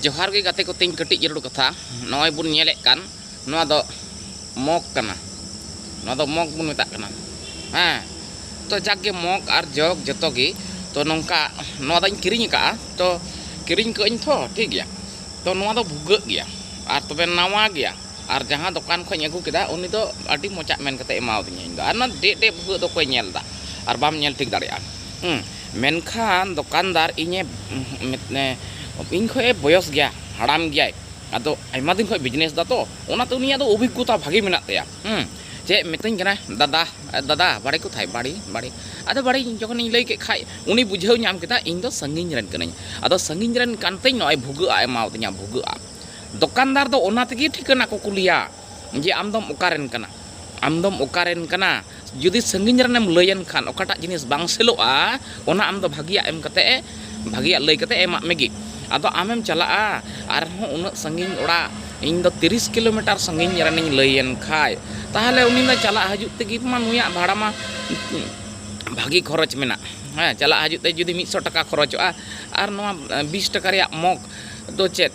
ᱡᱚᱦᱟᱨ ᱜᱮ ᱜᱟᱛᱮ ᱠᱚ ᱛᱤᱧ ᱠᱟᱹᱴᱤᱡ ᱡᱟᱹᱨᱩᱲ ᱠᱟᱛᱷᱟ ᱱᱚᱜᱼᱚᱭ ᱵᱚᱱ ᱧᱮᱞᱮᱫ ᱠᱟᱱ ᱱᱚᱣᱟ ᱫᱚ ᱢᱚᱜᱽ ᱠᱟᱱᱟ ᱱᱚᱣᱟ ᱫᱚ ᱢᱚᱜᱽ ᱵᱚᱱ ᱢᱮᱛᱟᱜ ᱠᱟᱱᱟ ᱦᱮᱸ ᱛᱚ ᱡᱟᱠ ᱜᱮ ᱢᱚᱜᱽ ᱟᱨ ᱡᱚᱜᱽ ᱡᱚᱛᱚ ᱜᱮ ᱛᱚ ᱱᱚᱝᱠᱟ ᱱᱚᱣᱟ ᱫᱚᱧ ᱠᱤᱨᱤᱧ ᱟᱠᱟᱫᱼᱟ ᱛᱚ ᱠᱤᱨᱤᱧ ᱠᱟᱜ ᱟᱹᱧ ᱛᱚ ᱴᱷᱤᱠ ᱜᱮᱭᱟ ᱛᱚ ᱱᱚᱣᱟ ᱫᱚ ᱵᱷᱩᱜᱟᱹᱜ ᱜᱮᱭᱟ ᱟᱨ ᱛᱚᱵᱮ ᱱᱟᱣᱟ ᱜᱮᱭᱟ ᱟᱨ ᱡᱟᱦᱟᱸ ᱫᱚᱠᱟᱱ ᱠᱷᱚᱱ ᱟᱹᱜᱩ ᱠᱮᱫᱟ ᱩᱱᱤ ᱫᱚ ᱟᱹᱰᱤ ᱢᱚᱡᱟᱜ ᱢᱮᱱ ᱠᱟᱛᱮ ᱮᱢᱟᱣᱫᱤᱧᱟ ᱤᱧ ᱫᱚ ᱟᱨ ᱱᱚᱣᱟ ᱰᱮᱜ ᱰᱮᱜ ᱵᱷᱩᱜᱟᱹᱜ ᱫᱚ ᱚᱠᱚᱭ ᱧᱮᱞ ᱮᱫᱟ ᱟᱨ ᱵᱟᱢ ᱧᱮᱞ ᱴᱷᱤᱠ ᱫᱟᱲᱮᱭᱟᱜᱼᱟ ᱦᱮᱸ ᱢᱮᱱᱠᱷᱟᱱ ᱫᱚᱠᱟᱱᱫᱟᱨ ᱤᱧᱮ ᱤᱧ ᱠᱷᱚᱱ ᱮ ᱵᱚᱭᱚᱥ ᱜᱮᱭᱟ ᱦᱟᱲᱟᱢ ᱜᱮᱭᱟᱭ ᱟᱫᱚ ᱟᱭᱢᱟ ᱫᱤᱱ ᱠᱷᱚᱱ ᱵᱤᱡᱽᱱᱮᱥ ᱮᱫᱟ ᱛᱚ ᱚᱱᱟᱛᱮ ᱩᱱᱤᱭᱟᱜ ᱫᱚ ᱚᱵᱷᱤᱜᱽᱜᱚᱛᱟ ᱵᱷᱟᱹᱜᱤ ᱢᱮᱱᱟᱜ ᱛᱟᱭᱟ ᱪᱮᱫ ᱢᱤᱛᱟᱹᱧ ᱠᱟᱱᱟᱭ ᱫᱟᱫᱟ ᱫᱟᱫᱟ ᱵᱟᱲᱮ ᱠᱚᱛᱷᱟᱭ ᱵᱟᱲᱮ ᱵᱟᱲᱮ ᱟᱫᱚ ᱵᱟᱲᱮ ᱡᱚᱠᱷᱚᱱᱤᱧ ᱞᱟᱹᱭ ᱠᱮᱫ ᱠᱷᱟᱱ ᱩᱱᱤ ᱵᱩᱡᱷᱟᱹᱣ ᱧᱟᱢ ᱠᱮᱫᱟ ᱤᱧ ᱫᱚ ᱥᱟᱺᱜᱤᱧ ᱨᱮᱱ ᱠᱟᱹᱱᱟᱹᱧ ᱟᱫᱚ ᱥᱟᱺᱜᱤᱧ ᱨᱮᱱ ᱠᱟᱱᱛᱤᱧ ᱱᱚᱜᱼᱚᱭ ᱵᱷᱩᱜᱟᱹᱜ ᱟᱜ ᱮ ᱮᱢᱟᱣᱟᱫᱤᱧᱟ ᱵᱷᱩᱜᱟᱹᱜ ᱟᱜ ᱫᱚᱠᱟᱱᱫᱟᱨ ᱫᱚ ᱚᱱᱟ ᱛᱮᱜᱮ ᱴᱷᱤᱠᱟᱹᱱᱟ ᱠᱚ ᱠᱩᱞᱤᱭᱟ ᱡᱮ ᱟᱢ ᱫᱚᱢ ᱚᱠᱟ ᱨᱮᱱ ᱠᱟᱱᱟ ᱟᱢ ᱫᱚᱢ ᱚᱠᱟ ᱨᱮᱱ ᱠᱟᱱᱟ ᱡᱩᱫᱤ ᱥᱟᱺᱜᱤᱧ ᱨᱮᱱ ᱮᱢ ᱞᱟᱹᱭ ᱟᱱ ᱠᱷᱟᱱ ᱚᱠᱟᱴᱟᱜ ᱡᱤᱱᱤᱥ ᱵᱟᱝ ᱥᱮᱞᱚᱜᱼᱟ ᱚᱱᱟ ᱟᱢ ᱫᱚ ᱵᱷᱟᱹᱜᱤᱭᱟᱜ ᱮᱢ ᱠᱟᱛᱮ ᱮ ᱵᱷᱟᱹᱜᱤᱭᱟᱜ ᱞᱟᱹᱭ ᱠᱟᱛᱮ ᱮᱢᱟᱜ ᱢᱮᱜᱮ ᱟᱫᱚ ᱟᱢᱮᱢ ᱪᱟᱞᱟᱜᱼᱟ ᱟᱨ ᱦᱚᱸ ᱩᱱᱟᱹᱜ ᱥᱟᱺᱜᱤᱧ ᱚᱲᱟᱜ ᱤᱧ ᱫᱚ ᱛᱤᱨᱤᱥ ᱠᱤᱞᱳᱢᱤᱴᱟᱨ ᱥᱟᱺᱜᱤᱧ ᱨᱮᱱᱤᱧ ᱞᱟᱹᱭ ᱟᱱ ᱠᱷᱟᱡ ᱛᱟᱦᱚᱞᱮ ᱩᱱᱤ ᱢᱟ ᱪᱟᱞᱟᱜ ᱦᱤᱡᱩᱜ ᱛᱮᱜᱮ ᱢᱟ ᱱᱩᱭᱟᱜ ᱵᱷᱟᱲᱟ ᱢᱟ ᱵᱷᱟᱹᱜᱤ ᱠᱷᱚᱨᱚᱪ ᱢᱮᱱᱟᱜ ᱦᱮᱸ ᱪᱟᱞᱟᱜ ᱦᱤᱡᱩᱜ ᱛᱮ ᱡᱩᱫᱤ ᱢᱤᱫᱥᱚ ᱴᱟᱠᱟ ᱠᱷᱚᱨᱚᱪᱚᱜᱼᱟ ᱟᱨ ᱱᱚᱣᱟ ᱵᱤᱥ ᱴᱟᱠᱟ ᱨᱮᱭᱟᱜ ᱢᱚᱜᱽ ᱫᱚ ᱪᱮᱫ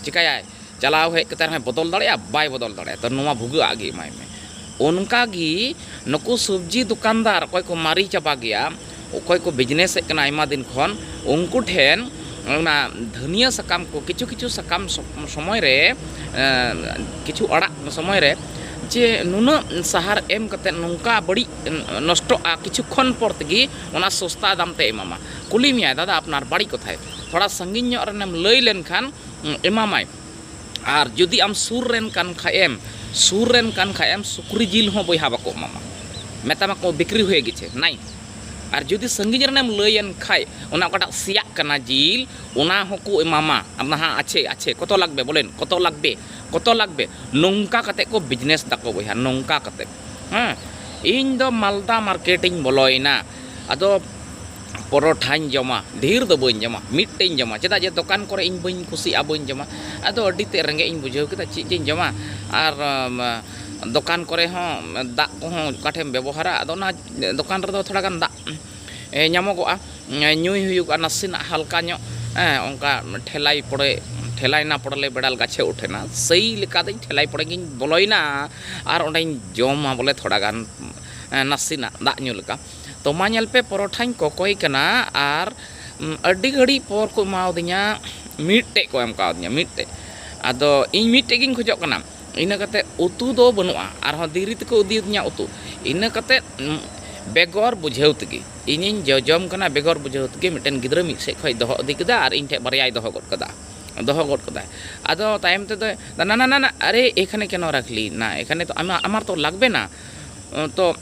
ᱪᱤᱠᱟᱹᱭᱟᱭ ᱪᱟᱞᱟᱣ ᱦᱮᱡ ᱠᱟᱛᱮ ᱨᱮᱦᱚᱸᱭ ᱵᱚᱫᱚᱞ ᱫᱟᱲᱮᱭᱟᱜᱼᱟ ᱵᱟᱭ ᱵᱚᱫᱚᱞ ᱫᱟᱲᱮᱭᱟᱜᱼᱟ ᱛᱚ ᱱᱚᱣᱟ ᱵᱷᱩᱜᱟᱹᱜᱼᱟᱜ ᱜᱮ ᱮᱢᱟᱭ ᱢᱮ ᱚᱱᱠᱟ ᱜᱮ ᱱᱩᱠᱩ ᱥᱚᱵᱽᱡᱤ ᱫᱚᱠᱟᱱᱫᱟᱨ ᱚᱠᱚᱭ ᱠᱚ ᱢᱟᱨᱮ ᱪᱟᱵᱟ ᱜᱮᱭᱟ ᱚᱠᱚᱭ ᱠᱚ ᱵᱤᱡᱽᱱᱮᱥᱮᱫ ᱠᱟᱱᱟ ᱟᱭᱢᱟ ᱫᱤᱱ ᱠᱷᱚᱱ ᱩᱱᱠᱩ ᱴᱷᱮᱱ ᱚᱱᱟ ᱫᱷᱟᱹᱱᱤᱭᱟᱹ ᱥᱟᱠᱟᱢ ᱠᱚ ᱠᱤᱪᱷᱩ ᱠᱤᱪᱷᱩ ᱥᱟᱠᱟᱢ ᱥᱚᱢᱚᱭ ᱨᱮ ᱠᱤᱪᱷᱩ ᱟᱲᱟᱜ ᱥᱚᱢᱚᱭ ᱨᱮ ᱡᱮ ᱱᱩᱱᱟᱹᱜ ᱥᱟᱦᱟᱨ ᱮᱢ ᱠᱟᱛᱮ ᱱᱚᱝᱠᱟ ᱵᱟᱹᱲᱤᱡ ᱱᱚᱥᱴᱚᱜᱼᱟ ᱠᱤᱪᱷᱩ ᱠᱷᱚᱱ ᱯᱚᱨ ᱛᱮᱜᱮ ᱚᱱᱟ ᱥᱚᱥᱛᱟ ᱫᱟᱢ ᱛᱮᱭ ᱮᱢᱟᱢᱟ ᱠᱩᱞᱤ ᱢᱮᱭᱟᱭ ᱫᱟᱫᱟ ᱟᱯᱱᱟᱨ ᱵᱟᱲᱤ ᱠᱚᱛᱷᱟᱭ ᱛᱷᱚᱲᱟ ᱥᱟᱺᱜᱤᱧ ᱧᱚᱜ ᱨᱮᱱᱮᱢ ᱞᱟᱹᱭ ᱞᱮᱱᱠᱷᱟᱱ ᱮᱢᱟᱢᱟᱭ ᱟᱨ ᱡᱩᱫᱤ ᱟᱢ ᱥᱩᱨ ᱨᱮᱱ ᱠᱟᱱ ᱠᱷᱟᱡ ᱮᱢ ᱥᱩᱨ ᱨᱮᱱ ᱠᱟᱱ ᱠᱷᱟᱡ ᱮᱢ ᱥᱩᱠᱨᱤ ᱡᱤᱞ ᱦᱚᱸ ᱵᱚᱭᱦᱟ ᱵᱟᱠᱚ ᱮᱢᱟᱢᱟ ᱢᱮᱛᱟᱢᱟ ᱠᱚ ᱵᱤᱠᱨᱤ ᱦᱩᱭ ᱜᱮᱪᱷᱮ ᱱᱟᱭ ᱟᱨ ᱡᱩᱫᱤ ᱥᱟᱺᱜᱤᱧ ᱨᱮᱱᱮᱢ ᱞᱟᱹᱭᱮᱱ ᱠᱷᱟᱡ ᱚᱱᱟ ᱚᱠᱟᱴᱟᱜ ᱥᱮᱭᱟᱜ ᱠᱟᱱᱟ ᱡᱤᱞ ᱚᱱᱟ ᱦᱚᱸᱠᱚ ᱮᱢᱟᱢᱟ ᱟᱢᱫᱚ ᱦᱟᱸ ᱟᱪᱷᱮ ᱟᱪᱷᱮ ᱠᱚᱛ ᱞᱟᱜᱽᱵᱮ ᱵᱚᱞᱮᱱ ᱠᱚᱛ ᱞᱟᱜᱽᱵᱮ ᱠᱚᱛ ᱞᱟᱜᱽᱵᱮ ᱱᱚᱝᱠᱟ ᱠᱟᱛᱮ ᱠᱚ ᱵᱤᱡᱽᱱᱮᱥ ᱫᱟᱠᱚ ᱵᱚᱭᱦᱟ ᱱᱚᱝᱠᱟ ᱠᱟᱛᱮ ᱦᱮᱸ ᱤᱧ ᱫᱚ ᱢᱟᱞᱫᱟ ᱢᱟᱨᱠᱮᱴ ᱤᱧ ᱵᱚᱞᱚᱭᱮᱱᱟ ᱟᱫᱚ ᱯᱚᱨᱚᱴᱷᱟᱧ ᱡᱚᱢᱟ ᱰᱷᱮᱨ ᱫᱚ ᱵᱟᱹᱧ ᱡᱚᱢᱟ ᱢᱤᱫᱴᱮᱡ ᱤᱧ ᱡᱚᱢᱟ ᱪᱮᱫᱟᱜ ᱡᱮ ᱫᱚᱠᱟᱱ ᱠᱚᱨᱮ ᱤᱧ ᱵᱟᱹᱧ ᱠᱩᱥᱤᱭᱟᱜᱼᱟ ᱵᱟᱹᱧ ᱡᱚᱢᱟ ᱟᱫᱚ ᱟᱹᱰᱤ ᱛᱮᱫ ᱨᱮᱸᱜᱮᱡ ᱤᱧ ᱵᱩᱡᱷᱟᱹᱣ ᱠᱮᱫᱟ ᱪᱮᱫ ᱡᱤᱧ ᱡᱚᱢᱟ ᱟᱨ ᱫᱚᱠᱟᱱ ᱠᱚᱨᱮ ᱦᱚᱸ ᱫᱟᱜ ᱠᱚᱦᱚᱸ ᱚᱠᱟ ᱴᱷᱮᱡ ᱮᱢ ᱵᱮᱵᱚᱦᱟᱨᱟ ᱟᱫᱚ ᱚᱱᱟ ᱫᱚᱠᱟᱱ ᱨᱮᱫᱚ ᱛᱷᱚᱲᱟ ᱜᱟᱱ ᱫᱟᱜ ᱧᱟᱢᱚᱜᱚᱜᱼᱟ ᱧᱩᱭ ᱦᱩᱭᱩᱜᱼᱟ ᱱᱟᱥᱮᱱᱟᱜ ᱦᱟᱞᱠᱟ ᱧᱚᱜ ᱦᱮᱸ ᱚᱱᱠᱟ ᱴᱷᱮᱞᱟᱭ ᱯᱚᱲᱮ ᱴᱷᱮᱞᱟᱭ ᱱᱟ ᱯᱚᱲᱞᱮ ᱵᱮᱲᱟᱞ ᱜᱟᱪᱷᱮ ᱩᱴᱷᱮ ᱱᱟ ᱥᱮᱭ ᱞᱮᱠᱟ ᱫᱚ ᱴᱷᱮᱞᱟᱭ ᱯᱚᱲᱮ ᱜᱤᱧ ᱵᱚᱞᱚᱭᱮᱱᱟ ᱟᱨ ᱚᱸᱰᱮᱧ ᱡᱚᱢᱟ ᱵᱚᱞᱮ ᱛᱷᱚᱲᱟ ᱜᱟᱱ ᱱᱟᱥᱮᱱᱟᱜ ᱫᱟᱜ ᱧᱩ ᱞᱮᱠᱟ ᱛᱚ ᱢᱟ ᱧᱮᱞ ᱯᱮ ᱯᱚᱨᱚᱴᱷᱟᱧ ᱠᱚᱠᱚᱭ ᱠᱟᱱᱟ ᱟᱨ ᱟᱹᱰᱤ ᱜᱷᱟᱹᱲᱤᱡ ᱯᱚᱨ ᱠᱚ ᱮᱢᱟᱣᱫᱤᱧᱟ ᱢᱤᱫᱴᱮᱡ ᱠᱚ ᱮᱢ ᱠᱟᱣᱫᱤᱧᱟ ᱢᱤᱫᱴᱮᱡ ᱟᱫᱚ ᱤᱧ ᱢᱤᱫᱴᱮᱡ ᱜᱤᱧ ᱠᱷᱚᱡᱚᱜ ᱠᱟᱱᱟ ᱤᱱᱟᱹ ᱠᱟᱛᱮ ᱩᱛᱩ ᱫᱚ ᱵᱟᱹᱱᱩᱜᱼᱟ ᱟᱨᱦᱚᱸ ᱫᱤᱨᱤ ᱛᱮᱠᱚ ᱤᱫᱤᱭᱟᱫᱤᱧᱟ ᱩᱛᱩ ᱤᱱᱟᱹ ᱠᱟᱛᱮ ᱵᱮᱜᱚᱨ ᱵᱩᱡᱷᱟᱹᱣ ᱛᱮᱜᱮ ᱤᱧᱤᱧ ᱡᱚᱡᱚᱢ ᱠᱟᱱᱟ ᱵᱮᱜᱚᱨ ᱵᱩᱡᱷᱟᱹᱣ ᱛᱮᱜᱮ ᱢᱤᱫᱴᱮᱱ ᱜᱤᱫᱽᱨᱟᱹ ᱢᱤᱫ ᱥᱮᱡ ᱠᱷᱚᱡ ᱫᱚᱦᱚ ᱤᱫᱤ ᱠᱮᱫᱟ ᱟᱨ ᱤᱧ ᱴᱷᱮᱡ ᱵᱟᱨᱭᱟᱭ ᱫᱚᱦᱚ ᱜᱚᱫ ᱠᱟᱫᱟ ᱫᱚᱦᱚ ᱜᱚᱫ ᱠᱟᱫᱟᱭ ᱟᱫᱚ ᱛᱟᱭᱚᱢ ᱛᱮᱫᱚᱭ ᱱᱟᱱᱟᱱᱟᱱᱟ ᱟᱨᱮ ᱮᱠᱷᱟᱱᱮ ᱠᱮᱱᱳ ᱨᱟᱠᱷ ᱞᱤ ᱱᱟ ᱮᱠᱷᱟᱱᱮ ᱛᱚ ᱟᱢᱟᱨ ᱛᱚ ᱞᱟᱜᱽᱵᱮ ᱱᱟ ᱛᱚ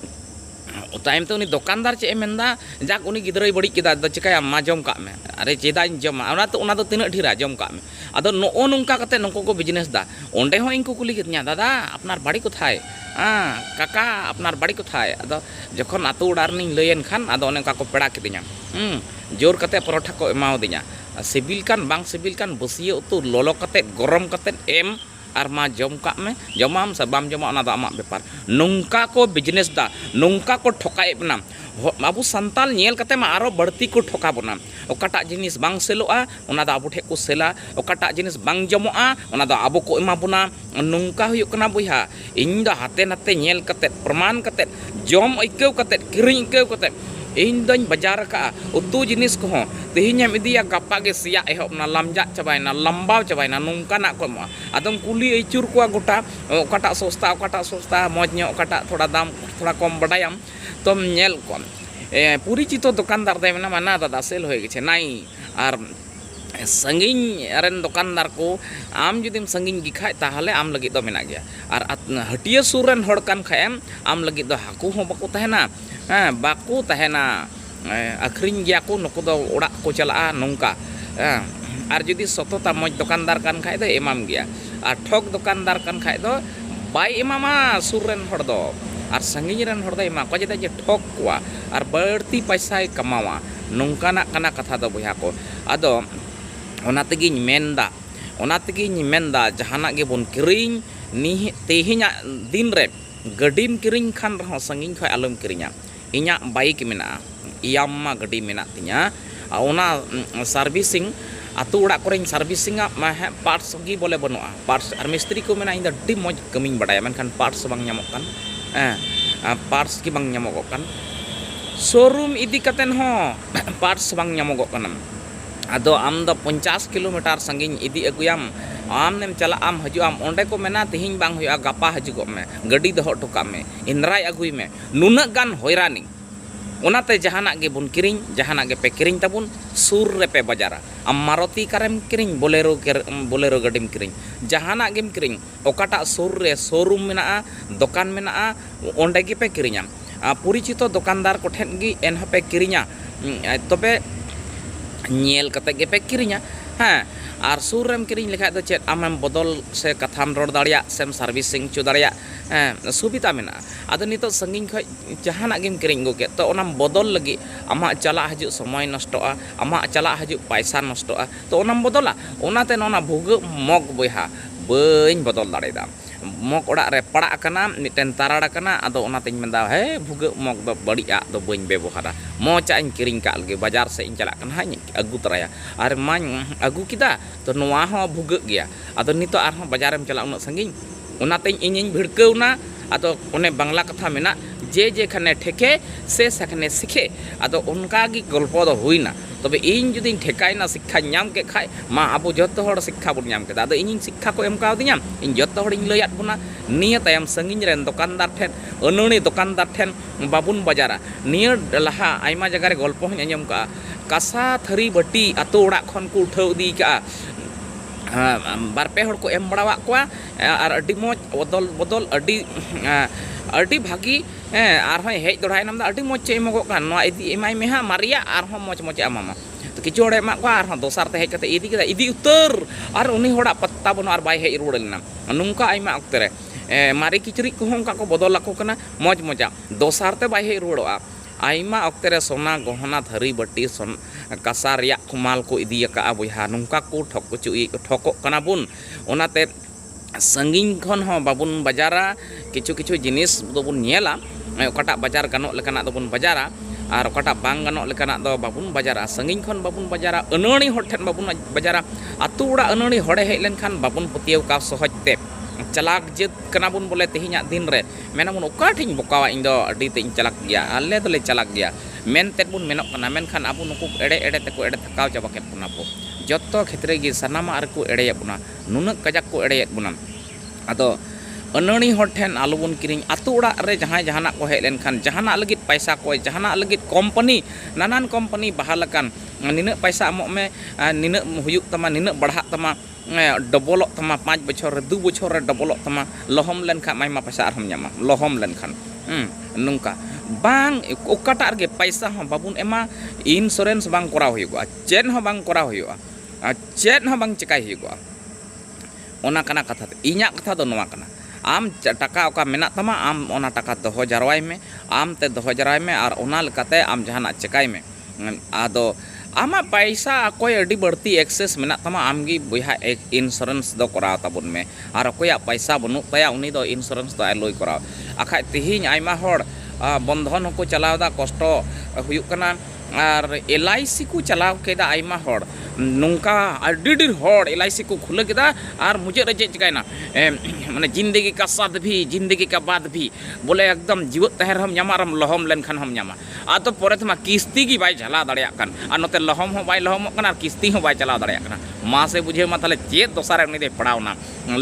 ᱛᱟᱭᱚᱢ ᱛᱮ ᱩᱱᱤ ᱫᱚᱠᱟᱱᱫᱟᱨ ᱪᱮᱫ ᱮ ᱢᱮᱱᱫᱟ ᱡᱟᱠ ᱩᱱᱤ ᱜᱤᱫᱽᱨᱟᱹᱭ ᱵᱟᱹᱲᱤᱡ ᱠᱮᱫᱟ ᱟᱫᱚ ᱪᱤᱠᱟᱹᱭᱟᱢ ᱢᱟ ᱡᱚᱢ ᱠᱟᱜ ᱢᱮ ᱟᱨᱮ ᱪᱮᱫᱟᱜ ᱤᱧ ᱡᱚᱢᱟ ᱚᱱᱟ ᱛᱚ ᱚᱱᱟ ᱫᱚ ᱛᱤᱱᱟᱹᱜ ᱰᱷᱮᱨᱟ ᱡᱚᱢ ᱠᱟᱜ ᱢᱮ ᱟᱫᱚ ᱱᱚᱜᱼᱚ ᱱᱚᱝᱠᱟ ᱠᱟᱛᱮᱫ ᱱᱩᱠᱩ ᱠᱚ ᱵᱤᱡᱽᱱᱮᱥ ᱫᱟ ᱚᱸᱰᱮ ᱦᱚᱸ ᱤᱧ ᱠᱚ ᱠᱩᱞᱤ ᱠᱤᱫᱤᱧᱟ ᱫᱟᱫᱟ ᱟᱯᱱᱟᱨ ᱵᱟᱲᱤ ᱠᱚᱛᱷᱟᱭ ᱦᱮᱸ ᱠᱟᱠᱟ ᱟᱯᱱᱟᱨ ᱵᱟᱲᱤ ᱠᱚᱛᱷᱟᱭ ᱟᱫᱚ ᱡᱚᱠᱷᱚᱱ ᱟᱹᱛᱩ ᱚᱲᱟᱜ ᱨᱮᱱᱤᱧ ᱞᱟᱹᱭᱟᱹᱧ ᱠᱷᱟᱱ ᱟᱫᱚ ᱚᱱᱮ ᱚᱱᱠᱟ ᱠᱚ ᱯᱮᱲᱟ ᱠᱤᱫᱤᱧᱟ ᱦᱮᱸ ᱡᱳᱨ ᱠᱟᱛᱮᱫ ᱯᱚᱨᱚᱴᱷᱟ ᱠᱚ ᱮᱢᱟᱣᱟᱫᱤᱧᱟ ᱥᱤᱵᱤᱞ ᱠᱟᱱ ᱵᱟᱝ ᱥᱤᱵᱤᱞ ᱠᱟᱱ ᱵᱟᱹᱥᱭᱟᱹ ᱩᱛᱩ ᱞᱚᱞᱚ ᱠᱟᱛᱮᱫ ᱜᱚᱨᱚᱢ ᱠᱟᱛᱮᱫ ᱮᱢ ᱟᱨ ᱢᱟ ᱡᱚᱢ ᱠᱟᱜ ᱢᱮ ᱡᱚᱢᱟᱢ ᱥᱮ ᱵᱟᱢ ᱡᱚᱢᱟ ᱚᱱᱟ ᱫᱚ ᱟᱢᱟᱜ ᱵᱮᱯᱟᱨ ᱱᱚᱝᱠᱟ ᱠᱚ ᱵᱤᱡᱽᱱᱮᱥ ᱫᱟ ᱱᱚᱝᱠᱟ ᱠᱚ ᱴᱷᱚᱠᱟᱭᱮᱫ ᱵᱚᱱᱟ ᱟᱵᱚ ᱥᱟᱱᱛᱟᱲ ᱧᱮᱞ ᱠᱟᱛᱮ ᱢᱟ ᱟᱨᱚ ᱵᱟᱹᱲᱛᱤ ᱠᱚ ᱴᱷᱚᱠᱟ ᱵᱚᱱᱟ ᱚᱠᱟᱴᱟᱜ ᱡᱤᱱᱤᱥ ᱵᱟᱝ ᱥᱮᱞᱚᱜᱼᱟ ᱚᱱᱟ ᱫᱚ ᱟᱵᱚ ᱴᱷᱮᱱ ᱠᱚ ᱥᱮᱞᱟ ᱚᱠᱟᱴᱟᱜ ᱡᱤᱱᱤᱥ ᱵᱟᱝ ᱡᱚᱢᱚᱜᱼᱟ ᱚᱱᱟ ᱫᱚ ᱟᱵᱚ ᱠᱚ ᱮᱢᱟ ᱵᱚᱱᱟ ᱱᱚᱝᱠᱟ ᱦᱩᱭᱩᱜ ᱠᱟᱱᱟ ᱵᱚᱭᱦᱟ ᱤᱧ ᱫᱚ ᱦᱟᱱᱛᱮ ᱱᱟᱛᱮ ᱧᱮᱞ ᱠᱟᱛᱮ ᱯᱨᱚᱢᱟᱱ ᱠᱟᱛᱮ ᱡᱚᱢ ᱟᱹᱭᱠᱟᱹᱣ ᱠᱟᱛᱮ ᱠᱤᱨᱤᱧ ᱟᱹᱭᱠᱟᱹᱣ ᱠᱟᱛᱮ ᱤᱧ ᱫᱚᱧ ᱵᱟᱡᱟᱨ ᱟᱠᱟᱫᱼᱟ ᱩᱛᱩ ᱡᱤᱱᱤᱥ ᱠᱚᱦᱚᱸ ᱛᱮᱦᱮᱧ ᱮᱢ ᱤᱫᱤᱭᱟ ᱜᱟᱯᱟ ᱜᱮ ᱥᱮᱭᱟᱜ ᱮᱦᱚᱵ ᱮᱱᱟ ᱞᱟᱢᱡᱟᱜ ᱪᱟᱵᱟᱭᱮᱱᱟ ᱞᱟᱢᱵᱟᱣ ᱪᱟᱵᱟᱭᱮᱱᱟ ᱱᱚᱝᱠᱟᱱᱟᱜ ᱠᱚ ᱮᱢᱚᱜᱼᱟ ᱟᱫᱚᱢ ᱠᱩᱞᱤ ᱟᱹᱪᱩᱨ ᱠᱚᱣᱟ ᱜᱳᱴᱟ ᱚᱠᱟᱴᱟᱜ ᱥᱚᱥᱛᱟ ᱚᱠᱟᱴᱟᱜ ᱥᱚᱥᱛᱟ ᱢᱚᱡᱽ ᱧᱚᱜ ᱚᱠᱟᱴᱟᱜ ᱛᱷᱚᱲᱟ ᱫᱟᱢ ᱛᱷᱚᱲᱟ ᱠᱚᱢ ᱵᱟᱰᱟᱭᱟᱢ ᱛᱚᱢ ᱧᱮᱞ ᱠᱚᱣᱟ ᱯᱚᱨᱤᱪᱤᱛᱚ ᱫᱚᱠᱟᱱᱫᱟᱨ ᱫᱚᱭ ᱢᱮᱱᱟ ᱱᱟ ᱫᱟᱫᱟ ᱥᱮᱞ ᱦᱳᱭᱮ ᱜᱮᱪᱷᱮ ᱱᱟᱭ ᱟᱨ ᱥᱟᱺᱜᱤᱧ ᱨᱮᱱ ᱫᱚᱠᱟᱱᱫᱟᱨ ᱠᱚ ᱟᱢ ᱡᱩᱫᱤᱢ ᱥᱟᱺᱜᱤᱧ ᱜᱮ ᱠᱷᱟᱡ ᱛᱟᱦᱚᱞᱮ ᱟᱢ ᱞᱟᱹᱜᱤᱫ ᱫᱚ ᱢᱮᱱᱟᱜ ᱜᱮᱭᱟ ᱟᱨ ᱦᱟᱹᱴᱭᱟᱹ ᱥᱩᱨ ᱨᱮᱱ ᱦᱚᱲ ᱠᱟᱱ ᱠᱷᱟᱡ ᱮᱢ ᱟᱢ ᱞᱟᱹᱜᱤᱫ ᱫᱚ ᱦᱟᱹᱠᱩ ᱦᱚᱸ ᱵᱟᱠᱚ ᱛᱟᱦᱮᱱᱟ ᱦᱮᱸ ᱵᱟᱠᱚ ᱛᱟᱦᱮᱱᱟ ᱟᱹᱠᱷᱨᱤᱧ ᱜᱮᱭᱟ ᱠᱚ ᱱᱩᱠᱩ ᱫᱚ ᱚᱲᱟᱜ ᱠᱚ ᱪᱟᱞᱟᱜᱼᱟ ᱱᱚᱝᱠᱟ ᱦᱮᱸ ᱟᱨ ᱡᱩᱫᱤ ᱥᱚᱛᱚᱛᱟ ᱢᱚᱡᱽ ᱫᱚᱠᱟᱱᱫᱟᱨ ᱠᱟᱱ ᱠᱷᱟᱡ ᱫᱚᱭ ᱮᱢᱟᱢ ᱜᱮᱭᱟ ᱟᱨ ᱴᱷᱚᱠ ᱫᱚᱠᱟᱱᱫᱟᱨ ᱠᱟᱱ ᱠᱷᱟᱡ ᱫᱚ ᱵᱟᱭ ᱮᱢᱟᱢᱟ ᱥᱩᱨ ᱨᱮᱱ ᱦᱚᱲ ᱫᱚ ᱟᱨ ᱥᱟᱺᱜᱤᱧ ᱨᱮᱱ ᱦᱚᱲ ᱫᱚᱭ ᱮᱢᱟ ᱠᱚᱣᱟ ᱪᱮᱫᱟᱜ ᱡᱮ ᱴᱷᱚᱠ ᱠᱚᱣᱟ ᱟᱨ ᱵᱟᱹᱲᱛᱤ ᱯᱚᱭᱥᱟᱭ ᱠᱟᱢᱟᱣᱟ ᱱᱚᱝᱠᱟᱱᱟᱜ ᱠᱟᱱᱟ ᱠᱟᱛᱷᱟ ᱫᱚ ᱵᱚᱭᱦᱟ ᱠᱚ᱾ ᱟᱫᱚ ᱚᱱᱟ ᱛᱮᱜᱮᱧ ᱢᱮᱱᱫᱟ, ᱚᱱᱟ ᱛᱮᱜᱮᱧ ᱢᱮᱱᱫᱟ ᱡᱟᱦᱟᱱᱟᱜ ᱜᱮᱵᱚᱱ ᱠᱤᱨᱤᱧ, ᱱᱤᱦ ᱛᱮᱦᱮᱧᱟᱜ ᱫᱤᱱ ᱨᱮ ᱜᱟᱹᱰᱤᱢ ᱠᱤᱨᱤᱧ ᱠᱷᱟᱱ ᱨᱮᱦᱚᱸ ᱥᱟᱺᱜᱤᱧ ᱠᱷᱚᱱ ᱟᱞᱚᱢ ᱠᱤᱨᱤᱧᱟ᱾ ᱤᱧᱟᱜ ᱵᱟᱭᱤᱠ ᱢᱮᱱᱟᱜᱼᱟ, ᱤᱭᱟᱢᱢᱟ ᱜᱟᱹᱰᱤ ᱢᱮᱱᱟᱜ ᱛᱤᱧᱟᱹ, ᱚᱱᱟ ᱥᱟᱨᱵᱷᱤᱥᱤᱝ ᱟᱹᱛᱩ ᱚᱲᱟᱜ ᱠᱚᱨᱮᱧ ᱥᱟᱨᱵᱷᱤᱥᱤᱝ ᱟᱜ ᱢᱮᱦᱮᱸᱜ ᱯᱟᱨᱴᱥ ᱜᱮ ᱵᱚᱞᱮ ᱵᱟᱹᱱᱩᱜᱼᱟ ᱯᱟᱨᱴᱥ ᱟᱨ ᱢᱤᱥᱛᱨᱤ ᱠᱚ ᱢᱮᱱᱟ ᱤᱧ ᱫᱚ ᱟᱹᱰᱤ ᱢᱚᱡᱽ ᱠᱟᱹᱢᱤᱧ ᱵᱟᱰᱟᱭᱟ ᱢᱮᱱᱠᱷᱟᱱ ᱯᱟᱨᱴᱥ ᱵᱟᱝ ᱧᱟᱢᱚᱜ ᱠᱟᱱ ᱦᱮᱸ ᱯᱟᱨᱴᱥ ᱜᱮ ᱵᱟᱝ ᱧᱟᱢᱚᱜᱚᱜ ᱠᱟᱱ ᱥᱳᱨᱩᱢ ᱤᱫᱤ ᱠᱟᱛᱮ ᱦᱚᱸ ᱯᱟᱨᱴᱥ ᱵᱟᱝ ᱧᱟᱢᱚᱜᱚᱜ ᱠᱟᱱᱟ ᱟᱫᱚ ᱟᱢ ᱫᱚ ᱯᱚᱧᱪᱟᱥ ᱠᱤᱞᱳᱢᱤᱴᱟᱨ ᱥᱟᱺᱜᱤᱧ ᱤᱫᱤ ᱟᱹᱜᱩᱭᱟᱢ ᱟᱢᱮᱢ ᱪᱟᱞᱟᱜ ᱟᱢ ᱦᱤᱡᱩᱜ ᱟᱢ ᱚᱸᱰᱮ ᱠᱚ ᱢᱮᱱᱟ ᱛᱮᱦᱮᱧ ᱵᱟᱝ ᱦᱩᱭᱩᱜᱼᱟ ᱜᱟᱯᱟ ᱦᱤᱡᱩᱜᱚᱜ ᱢᱮ ᱜᱟᱹᱰᱤ ᱫᱚᱦᱚ ᱦᱚᱴᱚ ᱠᱟᱜ ᱢᱮ ᱮᱱᱫᱨᱟᱭ ᱟᱹᱜᱩᱭ ᱢᱮ ᱱᱩᱱᱟᱹᱜ ᱜᱟᱱ ᱦᱚᱭᱨᱟᱱᱤ ᱚᱱᱟᱛᱮ ᱡᱟᱦᱟᱱᱟᱜ ᱜᱮ ᱵᱚᱱ ᱠᱤᱨᱤᱧ ᱡᱟᱦᱟᱱᱟᱜ ᱜᱮ ᱯᱮ ᱠᱤᱨᱤᱧ ᱛᱟᱵᱚᱱ ᱥᱩᱨ ᱨᱮ ᱯᱮ ᱵᱟᱡᱟᱨᱟ ᱟᱢ ᱢᱟᱨᱚᱛᱤ ᱠᱟᱨᱮᱢ ᱠᱤᱨᱤᱧ ᱵᱚᱞᱮᱨᱳ ᱵᱚᱞᱮᱨᱳ ᱜᱟᱹᱰᱤᱢ ᱠᱤᱨᱤᱧ ᱡᱟᱦᱟᱱᱟᱜ ᱜᱮᱢ ᱠᱤᱨᱤᱧ ᱚᱠᱟᱴᱟᱜ ᱥᱩᱨ ᱨᱮ ᱥᱳᱨᱩᱢ ᱢᱮᱱᱟᱜᱼᱟ ᱫᱚᱠᱟᱱ ᱢᱮᱱᱟᱜᱼᱟ ᱚᱸᱰᱮ ᱜᱮ ᱯᱮ ᱠᱤᱨᱤᱧᱟ ᱯᱚᱨᱤᱪᱤᱛᱚ ᱫᱚᱠᱟᱱᱫᱟᱨ ᱠᱚ ᱴᱷᱮᱱ ᱜᱮ ᱮᱱ ᱦᱚᱸ ᱯᱮ ᱠᱤᱨᱤᱧᱟ ᱛᱚᱵᱮ ᱧᱮᱞ ᱠᱟᱛᱮᱫ ᱜᱮᱯᱮ ᱠᱤᱨᱤᱧᱟ ᱦᱮᱸ ᱟᱨ ᱥᱩᱨ ᱨᱮᱢ ᱠᱤᱨᱤᱧ ᱞᱮᱠᱷᱟᱱ ᱫᱚ ᱪᱮᱫ ᱟᱢᱮᱢ ᱵᱚᱫᱚᱞ ᱥᱮ ᱠᱟᱛᱷᱟᱢ ᱨᱚᱲ ᱫᱟᱲᱮᱭᱟᱜ ᱥᱮᱢ ᱥᱟᱨᱵᱷᱤᱥᱤᱝ ᱦᱚᱪᱚ ᱫᱟᱲᱮᱭᱟᱜ ᱥᱩᱵᱤᱫᱟ ᱢᱮᱱᱟᱜᱼᱟ ᱟᱫᱚ ᱱᱤᱛᱚᱜ ᱥᱟᱺᱜᱤᱧ ᱠᱷᱚᱱ ᱡᱟᱦᱟᱱᱟᱜ ᱜᱮᱢ ᱠᱤᱨᱤᱧ ᱟᱹᱜᱩ ᱠᱮᱫ ᱛᱚ ᱚᱱᱟᱢ ᱵᱚᱫᱚᱞ ᱞᱟᱹᱜᱤᱫ ᱟᱢᱟᱜ ᱪᱟᱞᱟᱜ ᱦᱤᱡᱩᱜ ᱥᱚᱢᱚᱭ ᱱᱚᱥᱴᱚᱜᱼᱟ ᱟᱢᱟᱜ ᱪᱟᱞᱟᱜ ᱦᱤᱡᱩᱜ ᱯᱚᱭᱥᱟ ᱱᱚᱥᱴᱚᱜᱼᱟ ᱛᱚ ᱚᱱᱟᱢ ᱵᱚᱫᱚᱞᱟ ᱚᱱᱟᱛᱮ ᱱᱚᱜᱼᱚ ᱱᱟ ᱵᱷᱩᱜᱟᱹᱜ ᱢᱚᱜᱽ ᱵᱚᱭᱦᱟ ᱵᱟᱹᱧ ᱵᱚᱫᱚᱞ ᱫᱟᱲᱮᱭᱟᱫᱟ ᱢᱚᱜᱽ ᱚᱲᱟᱜ ᱨᱮ ᱯᱟᱲᱟᱜ ᱟᱠᱟᱱᱟ ᱢᱤᱫᱴᱮᱱ ᱛᱟᱨᱟᱲ ᱟᱠᱟᱱᱟ ᱟᱫᱚ ᱚᱱᱟᱛᱤᱧ ᱢᱮᱱᱫᱟ ᱦᱮᱭ ᱵᱷᱩᱜᱟᱹᱜ ᱢᱚᱜᱽ ᱫᱚ ᱵᱟᱹᱲᱤᱡ ᱟᱜ ᱫᱚ ᱵᱟᱹᱧ ᱵᱮᱵᱚᱦᱟᱨᱟ ᱢᱚᱡᱽ ᱟᱜ ᱤᱧ ᱠᱤᱨᱤᱧ ᱠᱟᱜ ᱞᱮᱜᱮ ᱵᱟᱡᱟᱨ ᱥᱮᱫ ᱤᱧ ᱪᱟᱞᱟᱜ ᱠᱟᱱᱟ ᱦᱟᱸᱜ ᱤᱧ ᱟᱹᱜᱩ ᱛᱚᱨᱟᱭᱟ ᱟᱨ ᱢᱟᱧ ᱟᱹᱜᱩ ᱠᱮᱫᱟ ᱛᱚ ᱱᱚᱣᱟ ᱦᱚᱸ ᱵᱷᱩᱜᱟᱹᱜ ᱜᱮᱭᱟ ᱟᱫᱚ ᱱᱤᱛᱚᱜ ᱟᱨᱦᱚᱸ ᱵᱟᱡᱟᱨᱮᱢ ᱪᱟᱞᱟᱜᱼᱟ ᱩᱱᱟᱹᱜ ᱥᱟᱺᱜᱤᱧ ᱚᱱᱟᱛᱮ ᱤᱧᱤᱧ ᱵᱷᱤᱲᱠᱟᱹᱣ ᱮᱱᱟ ᱟᱫᱚ ᱚᱱᱮ ᱵᱟᱝᱞᱟ ᱠᱟᱛᱷᱟ ᱢᱮᱱᱟᱜ ᱡᱮ ᱡᱮᱠᱷᱟᱱᱮ ᱴᱷᱮᱠᱮ ᱥᱮ ᱥᱮᱠᱷᱟᱱᱮ ᱥᱤᱠᱷᱮ ᱟᱫᱚ ᱚᱱᱠᱟ ᱜᱮ ᱜᱚᱞᱯᱚ ᱫᱚ ᱦᱩᱭ ᱮᱱᱟ ᱛᱚᱵᱮ ᱤᱧ ᱡᱩᱫᱤᱧ ᱴᱷᱮᱠᱟᱭᱮᱱᱟ ᱥᱤᱠᱠᱷᱟᱧ ᱧᱟᱢ ᱠᱮᱫ ᱠᱷᱟᱱ ᱢᱟ ᱟᱵᱚ ᱡᱚᱛᱚ ᱦᱚᱲ ᱥᱤᱠᱠᱷᱟ ᱵᱚᱱ ᱧᱟᱢ ᱠᱮᱫᱟ ᱟᱫᱚ ᱤᱧ ᱥᱤᱠᱠᱷᱟ ᱠᱚ ᱮᱢ ᱠᱟᱣᱫᱤᱧᱟ ᱤᱧ ᱡᱚᱛᱚ ᱦᱚᱲᱤᱧ ᱞᱟᱹᱭᱟᱫ ᱵᱚᱱᱟ ᱱᱤᱭᱟᱹ ᱛᱟᱭᱚᱢ ᱥᱟᱺᱜᱤᱧ ᱨᱮᱱ ᱫᱚᱠᱟᱱᱫᱟᱨ ᱴᱷᱮᱱ ᱟᱹᱱᱟᱹᱲᱤ ᱫᱚᱠᱟᱱᱫᱟᱨ ᱴᱷᱮᱱ ᱵᱟᱵᱚᱱ ᱵᱟᱡᱟᱨᱟ ᱱᱤᱭᱟᱹ ᱞᱟᱦᱟ ᱟᱭᱢᱟ ᱡᱟᱭᱜᱟ ᱨᱮ ᱜᱚᱞᱯᱚ ᱦᱚᱧ ᱟᱸᱡᱚᱢ ᱟᱠᱟᱫᱼᱟ ᱠᱟᱥᱟ ᱛᱷᱟᱹᱨᱤ ᱵᱟᱹᱴᱤ ᱟᱹᱛᱩ ᱚᱲᱟᱜ ᱠᱷᱚᱱ ᱠᱚ ᱩᱴᱷᱟᱹᱣ ᱤᱫᱤ ᱟᱠᱟᱫᱼᱟ ᱦᱮᱸ ᱵᱟᱨ ᱯᱮ ᱦᱚᱲ ᱠᱚ ᱮᱢ ᱵᱟᱲᱟᱣᱟᱜ ᱠᱚᱣᱟ ᱟᱨ ᱟᱹᱰᱤ ᱢᱚᱡᱽ ᱚᱫᱚᱞ ᱵᱚᱫᱚᱞ ᱟᱹᱰᱤ ᱟᱹᱰᱤ ᱵᱷᱟᱹᱜᱤ ᱦᱮᱸ ᱟᱨᱦᱚᱸᱭ ᱦᱮᱡ ᱫᱚᱦᱲᱟᱭᱮᱱᱟ ᱢᱮᱱᱫᱟ ᱟᱹᱰᱤ ᱢᱚᱡᱽ ᱪᱮᱫ ᱮᱢᱚᱜᱚᱜ ᱠᱟᱱ ᱱᱚᱣᱟ ᱤᱫᱤ ᱮᱢᱟᱭ ᱢᱮ ᱦᱟᱸᱜ ᱢᱟᱨᱮᱭᱟᱜ ᱟᱨᱦᱚᱸ ᱢᱚᱡᱽ ᱢᱚᱡᱽ ᱮ ᱮᱢᱟᱢᱟ ᱛᱳ ᱠᱤᱪᱷᱩ ᱦᱚᱲᱮ ᱮᱢᱟᱜ ᱠᱚᱣᱟ ᱟᱨᱦᱚᱸ ᱫᱚᱥᱟᱨ ᱛᱮ ᱦᱮᱡ ᱠᱟᱛᱮᱫ ᱤᱫᱤ ᱠᱮᱫᱟᱭ ᱤᱫᱤ ᱩᱛᱟᱹᱨ ᱟᱨ ᱩᱱᱤ ᱦᱚᱲᱟᱜ ᱯᱟᱛᱛᱟ ᱵᱟᱹᱱᱩᱜᱼᱟ ᱟᱨ ᱵᱟᱭ ᱦᱮᱡ ᱨᱩᱣᱟᱹᱲ ᱞᱮᱱᱟ ᱱᱚᱝᱠᱟ ᱟᱭᱢᱟ ᱚᱠᱛᱮ ᱨᱮ ᱢᱟᱨᱮ ᱠᱤᱪᱨᱤᱡ ᱠᱚᱦᱚᱸ ᱚᱱᱠᱟ ᱠᱚ ᱵᱚᱫᱚᱞ ᱟᱠᱚ ᱠᱟᱱᱟ ᱢᱚᱡᱽ ᱢᱚᱡᱟᱜ ᱫᱚᱥᱟᱨ ᱛᱮ ᱵᱟᱭ ᱦᱮᱡ ᱨᱩᱣᱟᱹᱲᱚᱜᱼᱟ ᱟᱭᱢᱟ ᱚᱠᱛᱮ ᱨᱮ ᱥᱚᱱᱟ ᱜᱚᱦᱚᱱᱟ, ᱛᱷᱟᱹᱨᱤ ᱵᱟᱹᱴᱤ, ᱠᱟᱸᱥᱟ ᱨᱮᱭᱟᱜ ᱠᱷᱩᱢᱟᱞ ᱠᱚ ᱤᱫᱤ ᱟᱠᱟᱫᱼᱟ ᱵᱚᱭᱦᱟ᱾ ᱱᱚᱝᱠᱟ ᱠᱚ ᱴᱷᱚᱠ ᱚᱪᱚᱭᱮᱫ ᱴᱷᱚᱠᱚᱜ ᱠᱟᱱᱟ ᱵᱚᱱ᱾ ᱚᱱᱟᱛᱮ ᱥᱟᱺᱜᱤᱧ ᱠᱷᱚᱱ ᱦᱚᱸ ᱵᱟᱵᱚᱱ ᱵᱟᱡᱟᱨᱟ᱾ ᱠᱤᱪᱷᱩ ᱠᱤᱪᱷᱩ ᱡᱤᱱᱤᱥ ᱫᱚᱵᱚᱱ ᱧᱮᱞᱟ᱾ ᱚᱠᱟᱴᱟᱜ ᱵᱟᱡᱟᱨ ᱜᱟᱱᱚᱜ ᱞᱮᱠᱟᱱᱟᱜ ᱫᱚᱵᱚᱱ ᱵᱟᱡᱟᱨᱟ ᱟᱨ ᱚᱠᱟᱴᱟᱜ ᱵᱟᱝ ᱜᱟᱱᱚᱜ ᱞᱮᱠᱟᱱᱟᱜ ᱫᱚ ᱵᱟᱵᱚᱱ ᱵᱟᱡᱟᱨᱟ᱾ ᱥᱟᱺᱜᱤᱧ ᱠᱷᱚᱱ ᱵᱟᱵᱚᱱ ᱵᱟᱡᱟᱨᱟ, ᱟᱹᱱᱟᱹᱲᱤ ᱦᱚᱲ ᱴᱷᱮᱱ ᱵᱟᱵᱚᱱ ᱵᱟᱡᱟᱨᱟ᱾ ᱟᱹᱛᱩ ᱚᱲᱟᱜ ᱟᱹᱱᱟᱹᱲᱤ ᱦᱚᱲᱮ ᱦᱮᱡ ᱞᱮᱱᱠᱷᱟᱱ ᱵᱟᱵᱚᱱ ᱯᱟᱹᱛᱭᱟᱹᱣ ᱠᱚᱣᱟ ᱥᱚᱦᱚᱡᱽ ᱛᱮ᱾ ᱪᱟᱞᱟᱠ ᱡᱟᱹᱛ ᱠᱟᱱᱟ ᱵᱚᱱ ᱵᱚᱞᱮ ᱛᱮᱦᱮᱧᱟᱜ ᱫᱤᱱ ᱨᱮ᱾ ᱢᱮᱱ ᱟᱵᱚᱱ ᱚᱠᱟ ᱴᱷᱮᱱ ᱤᱧ ᱵᱚᱠᱟᱣᱟ ᱤᱧ ᱫᱚ ᱟᱹᱰᱤ ᱛᱮᱫ ᱤᱧ ᱪᱟᱞᱟᱠ ᱜᱮᱭᱟ ᱟᱞᱮ ᱫᱚᱞᱮ ᱪᱟᱞᱟᱠ ᱜᱮᱭᱟ ᱢᱮᱱᱛᱮ ᱵᱚᱱ ᱢᱮᱱᱚᱜ ᱠᱟᱱᱟ ᱢᱮᱱᱠᱷᱟᱱ ᱟᱵᱚ ᱱᱩᱠᱩ ᱮᱲᱮ ᱮᱲᱮ ᱛᱮᱠᱚ ᱮᱲᱮ ᱛᱷᱟᱠᱟᱣ ᱪᱟᱵᱟ ᱠᱮᱫ ᱵᱚᱱᱟ ᱠᱚ ᱡᱚᱛᱚ ᱠᱷᱮᱛᱨᱮ ᱜᱮ ᱥᱟᱱᱟᱢᱟᱜ ᱨᱮᱠᱚ ᱮᱲᱮᱭᱮᱫ ᱵᱚᱱᱟ ᱱᱩᱱᱟᱹᱜ ᱠᱟᱡᱟᱠ ᱠᱚ ᱮᱲᱮᱭᱮᱫ ᱵᱚᱱᱟ ᱟᱫᱚ ᱟᱹᱱᱟᱹᱲᱤ ᱦᱚᱲ ᱴᱷᱮᱱ ᱟᱞᱚ ᱵᱚᱱ ᱠᱤᱨᱤᱧ ᱟᱹᱛᱩ ᱚᱲᱟᱜ ᱨᱮ ᱡᱟᱦᱟᱸᱭ ᱡᱟᱦᱟᱱᱟᱜ ᱠᱚ ᱦᱮᱡ ᱞᱮᱱᱠᱷᱟᱱ ᱡᱟᱦᱟᱱᱟᱜ ᱞᱟᱹᱜᱤᱫ ᱯᱚᱭᱥᱟ ᱠᱚᱭ ᱡᱟᱦᱟᱱᱟᱜ ᱞᱟᱹᱜᱤᱫ ᱠᱳᱢᱯᱟᱱᱤ ᱱᱟᱱᱟᱱ ᱠᱳᱢᱯᱟᱱᱤ ᱵᱟᱦᱟᱞ ᱟᱠᱟᱱ ᱱᱤᱱᱟᱹᱜ ᱯᱚᱭᱥᱟ ᱮᱢᱚᱜ ᱢᱮ ᱟᱨ ᱱᱤᱱᱟᱹᱜ ᱦᱩᱭᱩᱜ ᱛᱟᱢᱟ ᱱᱤᱱᱟᱹᱜ ᱵᱟᱲᱦᱟᱜ ᱛᱟᱢᱟ ᱰᱚᱵᱚᱞᱚᱜ ᱛᱟᱢᱟ ᱯᱟᱸᱪ ᱵᱚᱪᱷᱚᱨ ᱨᱮ ᱫᱩ ᱵᱚᱪᱷᱚᱨ ᱨᱮ ᱰᱚᱵᱚᱞᱚᱜ ᱛᱟᱢᱟ ᱞᱚᱦᱚᱢ ᱞᱮᱱᱠᱷᱟᱱ ᱟᱭᱢᱟ ᱯᱚᱭᱥᱟ ᱟᱨᱦᱚᱢ ᱧᱟᱢᱟ ᱞᱚᱦᱚᱢ ᱞᱮᱱᱠᱷᱟᱱ ᱱᱚᱝᱠᱟ ᱵᱟᱝ ᱚᱠᱟᱴᱟᱜ ᱨᱮᱜᱮ ᱯᱚᱭᱥᱟ ᱦᱚᱸ ᱵᱟᱵᱚᱱ ᱮᱢᱟ ᱤᱱᱥᱩᱨᱮᱱᱥ ᱵᱟᱝ ᱠᱚᱨᱟᱣ ᱦᱩᱭᱩᱜᱼᱟ ᱪᱮᱫ ᱦᱚᱸ ᱵᱟᱝ ᱠᱚᱨᱟᱣ ᱦᱩᱭᱩᱜᱼᱟ ᱟᱨ ᱪᱮᱫ ᱦᱚᱸ ᱵᱟᱝ ᱪᱤᱠᱟᱹᱭ ᱦᱩᱭᱩᱜᱚᱜᱼᱟ ᱚᱱᱟ ᱠᱟᱱᱟ ᱠᱟᱛᱷᱟ ᱫᱚ ᱤᱧᱟᱹᱜ ᱠᱟᱛᱷᱟ ᱫᱚ ᱱᱚᱣᱟ ᱠᱟᱱᱟ ᱟᱢ ᱴᱟᱠᱟ ᱚᱠᱟ ᱢᱮᱱᱟᱜ ᱛᱟᱢᱟ ᱟᱢ ᱚᱱᱟ ᱴᱟᱠᱟ ᱫᱚᱦᱚ ᱡᱟᱣᱨᱟᱭ ᱢᱮ ᱟᱢ ᱛᱮ ᱫᱚᱦᱚ ᱡᱟᱣᱨᱟᱭ ᱢᱮ ᱟᱨ ᱚᱱᱟ ᱞᱮᱠᱟᱛᱮ ᱟᱢ ᱡᱟᱦᱟᱱᱟᱜ ᱪᱤᱠᱟᱹᱭ ᱢᱮ ᱟᱫᱚ ᱟᱢᱟᱜ ᱯᱟᱭᱥᱟ ᱟᱠᱚᱭ ᱟᱹᱰᱤ ᱵᱟᱹᱲᱛᱤ ᱮᱠᱥᱮᱥ ᱢᱮᱱᱟᱜ ᱛᱟᱢᱟ ᱟᱢ ᱜᱮ ᱵᱚᱭᱦᱟ ᱤᱱᱥᱩᱨᱮᱱᱥ ᱫᱚ ᱠᱚᱨᱟᱣ ᱛᱟᱵᱚᱱ ᱢᱮ ᱟᱨ ᱚᱠᱚᱭᱟᱜ ᱯᱟᱭᱥᱟ ᱵᱟᱹᱱᱩᱜ ᱛᱟᱭᱟ ᱩᱱᱤ ᱫᱚ ᱤᱱᱥᱩᱨᱮᱱᱥ ᱫᱚ ᱟᱞᱚᱭ ᱠᱚᱨᱟᱣ ᱟᱠᱷᱟᱡ ᱛᱮᱦᱮᱧ ᱟᱭᱢᱟ ᱦᱚᱲ ᱵᱚᱱᱫᱷᱚᱱ ᱦᱚᱸᱠᱚ ᱪᱟᱞᱟᱣ ᱮᱫᱟ ᱠᱚᱥᱴᱚ ᱦᱩᱭᱩᱜ ᱠᱟᱱᱟ ᱟᱨ ᱮᱞ ᱟᱭ ᱥᱤ ᱠᱚ ᱪᱟᱞᱟᱣ ᱠᱮᱫᱟ ᱟᱭᱢᱟ ᱦᱚᱲ ᱱᱚᱝᱠᱟ ᱟᱹᱰᱤ ᱰᱷᱮᱨ ᱦᱚᱲ ᱮᱞ ᱟᱭ ᱥᱤ ᱠᱚ ᱠᱷᱩᱞᱟᱹᱣ ᱠᱮᱫᱟ ᱟᱨ ᱢᱩᱪᱟᱹᱫ ᱨᱮ ᱪᱮᱫ ᱪᱤᱠᱟᱹᱭᱮᱱᱟ ᱢᱟᱱᱮ ᱡᱤᱱᱫᱮᱜᱤ ᱠᱟ ᱥᱟᱫᱽ ᱵᱷᱤ ᱡᱤᱱᱫᱮᱜᱤ ᱠᱟ ᱵᱟᱫᱽ ᱵᱷᱤ ᱵᱚᱞᱮ ᱮᱠᱫᱚᱢ ᱡᱤᱣᱮᱫ ᱛᱟᱦᱮᱱ ᱨᱮᱦᱚᱸᱢ ᱧᱟᱢᱟ ᱟᱨᱮᱢ ᱞᱚᱦᱚᱢ ᱞᱮᱱᱠᱷᱟᱱ ᱦᱚᱸᱢ ᱧᱟᱢᱟ ᱟᱫᱚ ᱯᱚᱨᱮ ᱛᱮᱢᱟ ᱠᱤᱥᱛᱤ ᱜᱮ ᱵᱟᱭ ᱡᱷᱟᱞᱟᱣ ᱫᱟᱲᱮᱭᱟᱜ ᱠᱟᱱ ᱟᱨ ᱱᱚᱛᱮ ᱞᱚᱦᱚᱢ ᱦᱚᱸ ᱵᱟᱭ ᱞᱚᱦᱚᱢᱚᱜ ᱠᱟᱱᱟ ᱟᱨ ᱠᱤᱥᱛᱤ ᱦᱚᱸ ᱵᱟᱭ ᱪᱟᱞᱟᱣ ᱫᱟᱲᱮᱭᱟᱜ ᱠᱟᱱᱟ ᱢᱟᱥᱮ ᱵᱩᱡᱷᱟᱹᱣ ᱢᱟ ᱛᱟᱦᱚᱞᱮ ᱪᱮᱫ ᱫᱚᱥᱟ ᱨᱮ ᱩᱱᱤ ᱫᱚᱭ ᱯᱟᱲᱟᱣᱱᱟ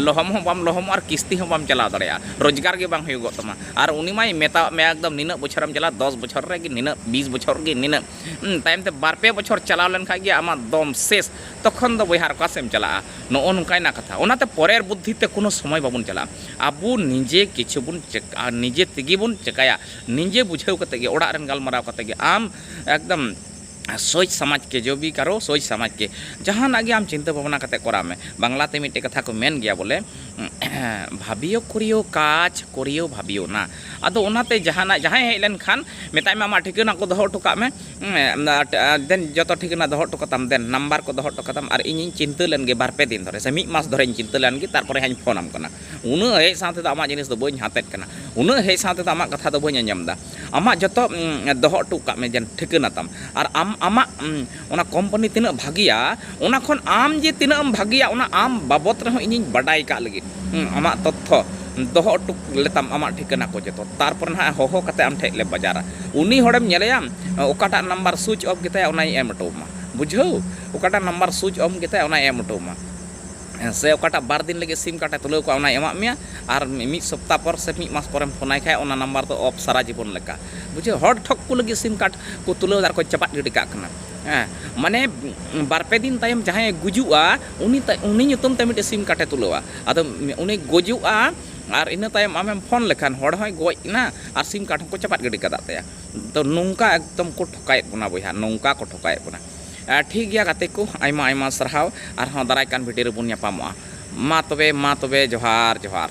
ᱞᱚᱦᱚᱢ ᱦᱚᱸ ᱵᱟᱢ ᱞᱚᱦᱚᱢᱚᱜᱼᱟ ᱟᱨ ᱠᱤᱥᱛᱤ ᱦᱚᱸ ᱵᱟᱢ ᱪᱟᱞᱟᱣ ᱫᱟᱲᱮᱭᱟᱜᱼᱟ ᱨᱳᱡᱽᱜᱟᱨ ᱜᱮ ᱵᱟᱝ ᱦᱩᱭᱩᱜᱚᱜ ᱛᱟᱢᱟ ᱟᱨ ᱩᱱᱤ ᱢᱟᱭ ᱢᱮᱛᱟᱣᱟᱫ ᱢᱮᱭᱟ ᱮᱠᱫᱚᱢ ᱱᱤᱱᱟᱹᱜ ᱵᱚᱪᱷᱚᱨᱮᱢ ᱪᱟᱞᱟᱜᱼᱟ ᱫᱚᱥ ᱵᱚᱪᱷᱚᱨ ᱨᱮᱜᱮ ᱱᱤᱱᱟᱹᱜ ᱵᱤᱥ ᱵᱚᱪᱷᱚᱨ ᱜᱮ ᱱᱤᱱᱟᱹᱜ ᱛᱟᱭᱚᱢ ᱛᱮ ᱵᱟᱨ ᱯᱮ ᱵᱚᱪᱷᱚᱨ ᱪᱟᱞᱟᱣ ᱞᱮᱱ ᱠᱷᱟᱱ ᱜᱮ ᱟᱢᱟᱜ ᱫᱚᱢ ᱥᱮᱥ ᱛᱚᱠᱷᱚᱱ ᱫᱚ ᱵᱚᱭᱦᱟ ᱟᱨ ᱚᱠᱟ ᱥᱮᱫ ᱮᱢ ᱪᱟᱞᱟᱜᱼᱟ ᱱᱚᱜᱼᱚ ᱱᱚᱝᱠᱟᱭᱮᱱᱟ ᱠᱟᱛᱷᱟ ᱚᱱᱟᱛᱮ ᱯᱚᱨᱮᱨ ᱵᱩᱫᱽᱫᱷᱤ ᱛᱮ ᱠᱳᱱᱳ ᱥᱚᱢᱚᱭ ᱵᱟᱵᱚᱱ ᱪᱟᱞᱟᱜᱼᱟ ᱟᱵᱚ ᱱᱤᱡᱮ ᱠᱤᱪᱷᱩ ᱵᱚᱱ ᱱᱤᱡᱮ ᱛᱮᱜᱮ ᱵᱚᱱ ᱪᱤᱠᱟᱹᱭᱟ ᱱᱤᱡᱮ ᱵᱩᱡᱷᱟᱹᱣ ᱠᱟᱛᱮ ᱜᱮ ᱚᱲᱟᱜ ᱨᱮᱱ ᱜᱟᱞᱢᱟᱨᱟᱣ ᱠᱟᱛᱮ ᱜᱮ ᱟᱢ ᱮᱠᱫᱚᱢ ᱥᱚᱪ ᱥᱟᱢᱟᱡᱽ ᱠᱮ ᱡᱚ ᱵᱤ ᱠᱟᱨᱳ ᱥᱚᱪ ᱥᱟᱢᱟᱡᱽ ᱠᱮ ᱡᱟᱦᱟᱱᱟᱜ ᱜᱮ ᱟᱢ ᱪᱤᱱᱛᱟᱹ ᱵᱷᱟᱵᱽᱱᱟ ᱠᱟᱛᱮ ᱠᱚᱨᱟᱣ ᱢᱮ ᱵᱟᱝᱞᱟ ᱛᱮ ᱢᱤᱫᱴᱮᱱ ᱠᱟᱛᱷᱟ ᱠᱚ ᱢᱮᱱ ᱜᱮᱭᱟ ᱵᱚᱞᱮ ᱵᱷᱟᱵᱤᱭᱳ ᱠᱚᱨᱤᱭᱳ ᱠᱟᱡᱽ ᱠᱚᱨᱤᱭᱳ ᱵᱷᱟᱵᱤᱭᱳ ᱱᱟ ᱟᱫᱚ ᱚᱱᱟᱛᱮ ᱡᱟᱦᱟᱱᱟᱜ ᱡᱟᱦᱟᱸᱭ ᱦᱮᱡ ᱞᱮᱱᱠᱷᱟᱱ ᱢᱮᱛᱟᱭ ᱢᱮ ᱟᱢᱟᱜ ᱴᱷᱤᱠᱟᱹᱱᱟ ᱠᱚ ᱫᱚᱦᱚ ᱦᱚᱴᱚ ᱠᱟᱜ ᱢᱮ ᱫᱮᱱ ᱡᱚᱛᱚ ᱴᱷᱤᱠᱟᱹᱱᱟ ᱫᱚᱦᱚ ᱦᱚᱴᱚ ᱠᱟᱛᱟᱢ ᱫᱮᱱ ᱱᱟᱢᱵᱟᱨ ᱠᱚ ᱫᱚᱦᱚ ᱦᱚᱴᱚ ᱠᱟᱛᱟᱢ ᱟᱨ ᱤᱧᱤᱧ ᱪᱤᱱᱛᱟᱹ ᱞᱮᱱ ᱜᱮ ᱵᱟᱨ ᱯᱮ ᱫᱤᱱ ᱫᱷᱚᱨᱮ ᱥᱮ ᱢᱤᱫ ᱢᱟᱥ ᱫᱷᱚᱨᱮᱧ ᱪᱤᱱᱛᱟᱹ ᱞᱮᱱ ᱜᱮ ᱛᱟᱨᱯᱚᱨᱮ ᱦᱟᱸᱜ ᱤᱧ ᱯᱷᱳᱱᱟᱢ ᱠᱟᱱᱟ ᱩᱱᱟᱹᱜ ᱦᱮᱡ ᱥᱟᱶ ᱛᱮᱫᱚ ᱟᱢᱟᱜ ᱡᱤᱱᱤᱥ ᱫᱚ ᱵᱟᱹᱧ ᱦᱟᱛᱮᱫ ᱠᱟᱱᱟ ᱩᱱᱟᱹᱜ ᱦᱮᱡ ᱥᱟᱶ ᱛᱮᱫᱚ ᱟᱢᱟᱜ ᱠᱟᱛᱷᱟ ᱫᱚ ᱵᱟᱹᱧ ᱟᱸᱡᱚᱢ ᱮᱫᱟ ᱟᱢᱟᱜ ᱡᱚᱛᱚ ᱫᱚᱦᱚ ᱦᱚᱴᱚ ᱠᱟᱜ ᱢᱮ ᱡᱮᱱᱚ ᱴᱷᱤᱠᱟᱹᱱᱟ ᱛᱟᱢ ᱟᱨ ᱟᱢ ᱟᱢᱟᱜ ᱚᱱᱟ ᱠᱳᱢᱯᱟᱱᱤ ᱛᱤᱱᱟᱹᱜ ᱵᱷᱟᱹᱜᱤᱭᱟ ᱚᱱᱟ ᱠᱷᱚᱱ ᱟᱢ ᱡᱮ ᱛᱤᱱᱟᱹᱜ ᱮᱢ ᱵᱷᱟᱹᱜᱤᱭᱟ ᱚᱱᱟ ᱟᱢ ᱵᱟᱵᱚᱫ ᱨᱮᱦᱚᱸ ᱤᱧᱤᱧ ᱵᱟᱰᱟᱭ ᱠᱟᱜ ᱞᱟᱹᱜᱤᱫ ᱟᱢᱟᱜ ᱛᱚᱛᱛᱷᱚ ᱫᱚᱦᱚ ᱦᱚᱴᱚ ᱞᱮᱛᱟᱢ ᱟᱢᱟᱜ ᱴᱷᱤᱠᱟᱹᱱᱟ ᱠᱚ ᱡᱚᱛᱚ ᱛᱟᱨᱯᱚᱨ ᱱᱟᱦᱟᱜ ᱦᱚᱦᱚ ᱠᱟᱛᱮᱫ ᱟᱢ ᱴᱷᱮᱱ ᱞᱮ ᱵᱟᱡᱟᱨᱟ ᱩᱱᱤ ᱦᱚᱲᱮᱢ ᱧᱮᱞᱮᱭᱟ ᱚᱠᱟᱴᱟᱜ ᱱᱟᱢᱵᱟᱨ ᱥᱩᱭᱤᱪ ᱚᱯᱷ ᱜᱮᱛᱟᱭᱟ ᱚᱱᱟᱧ ᱮᱢ ᱦᱚᱴᱚ ᱟᱢᱟ ᱵᱩᱡᱷᱟᱹᱣ ᱚᱠᱟᱴᱟᱜ ᱱᱟᱢᱵᱟᱨ ᱥᱩᱭᱤᱪ ᱚᱯᱷ ᱜᱮᱛᱟᱭᱟ ᱚᱱᱟᱧ ᱮᱢ ᱦᱚᱴᱚ ᱟᱢᱟ ᱥᱮ ᱚᱠᱟᱴᱟᱜ ᱵᱟᱨ ᱫᱤᱱ ᱞᱟᱹᱜᱤᱫ ᱥᱤᱢ ᱠᱟᱨᱰ ᱮ ᱛᱩᱞᱟᱹᱣ ᱠᱚᱣᱟ ᱚᱱᱟᱭ ᱮᱢᱟᱜ ᱢᱮᱭᱟ ᱟᱨ ᱢᱤᱫ ᱥᱚᱯᱛᱟ ᱯᱚᱨ ᱥᱮ ᱢᱤᱫ ᱢᱟᱥ ᱯᱚᱨᱮᱢ ᱯᱷᱳᱱᱟᱭ ᱠᱷᱟᱱ ᱚᱱᱟ ᱱᱟᱢᱵᱟᱨ ᱫᱚ ᱚᱯᱷ ᱥᱟᱨᱟ ᱡᱤᱵᱚᱱ ᱞᱮᱠᱟ ᱵᱩᱡᱷᱟᱹᱣ ᱦᱚᱲ ᱴᱷᱚᱠ ᱠᱚ ᱞᱟᱹᱜᱤᱫ ᱥᱤᱢ ᱠᱟᱨᱰ ᱠᱚ ᱛᱩᱞᱟᱹᱣ ᱮᱫᱟ ᱟᱨ ᱠᱚ ᱪᱟᱯᱟᱫ ᱜᱤᱰᱤ ᱠᱟᱜ ᱠᱟᱱᱟ ᱦᱮᱸ ᱢᱟᱱᱮ ᱵᱟᱨ ᱯᱮ ᱫᱤᱱ ᱛᱟᱭᱚᱢ ᱡᱟᱦᱟᱸᱭᱮ ᱜᱩᱡᱩᱜᱼᱟ ᱩᱱᱤ ᱩᱱᱤ ᱧᱩᱛᱩᱢ ᱛᱮ ᱢᱤᱫᱴᱮᱱ ᱥᱤᱢ ᱠᱟᱨᱰ ᱮ ᱛᱩᱞᱟᱹᱣᱟ ᱟᱫᱚ ᱩᱱᱤ ᱜᱩᱡᱩᱜᱼᱟ ᱟᱨ ᱤᱱᱟᱹ ᱛᱟᱭᱚᱢ ᱟᱢᱮᱢ ᱯᱷᱳᱱ ᱞᱮᱠᱷᱟᱱ ᱦᱚᱲ ᱦᱚᱸᱭ ᱜᱚᱡ ᱮᱱᱟ ᱟᱨ ᱥᱤᱢ ᱠᱟᱨᱰ ᱦᱚᱸᱠᱚ ᱪᱟᱯᱟᱫ ᱜᱤᱰᱤ ᱠᱟᱫ ᱛᱟᱭᱟ ᱛᱚ ᱱᱚᱝᱠᱟ ᱮᱠᱫᱚᱢ ᱠᱚ ᱴᱷᱚᱠᱟᱣᱮᱫ ᱵᱚᱱᱟ ᱵᱚᱭᱦᱟ ᱱᱚᱝᱠᱟ ᱠᱚ ᱴᱷᱚᱠᱟᱣᱮᱫ ᱵᱚᱱᱟ ᱴᱷᱤᱠ ᱜᱮᱭᱟ ᱜᱟᱛᱮ ᱠᱚ ᱟᱭᱢᱟ ᱟᱭᱢᱟ ᱥᱟᱨᱦᱟᱣ ᱟᱨᱦᱚᱸ ᱫᱟᱨᱟᱭ ᱠᱟᱱ ᱵᱷᱤᱰᱤᱭᱳ ᱨᱮᱵᱚᱱ ᱧᱟᱯᱟᱢᱚᱜᱼᱟ ᱢᱟ ᱛᱚᱵᱮ ᱢᱟ ᱛᱚᱵᱮ ᱡᱚᱦᱟᱨ ᱡᱚᱦᱟᱨ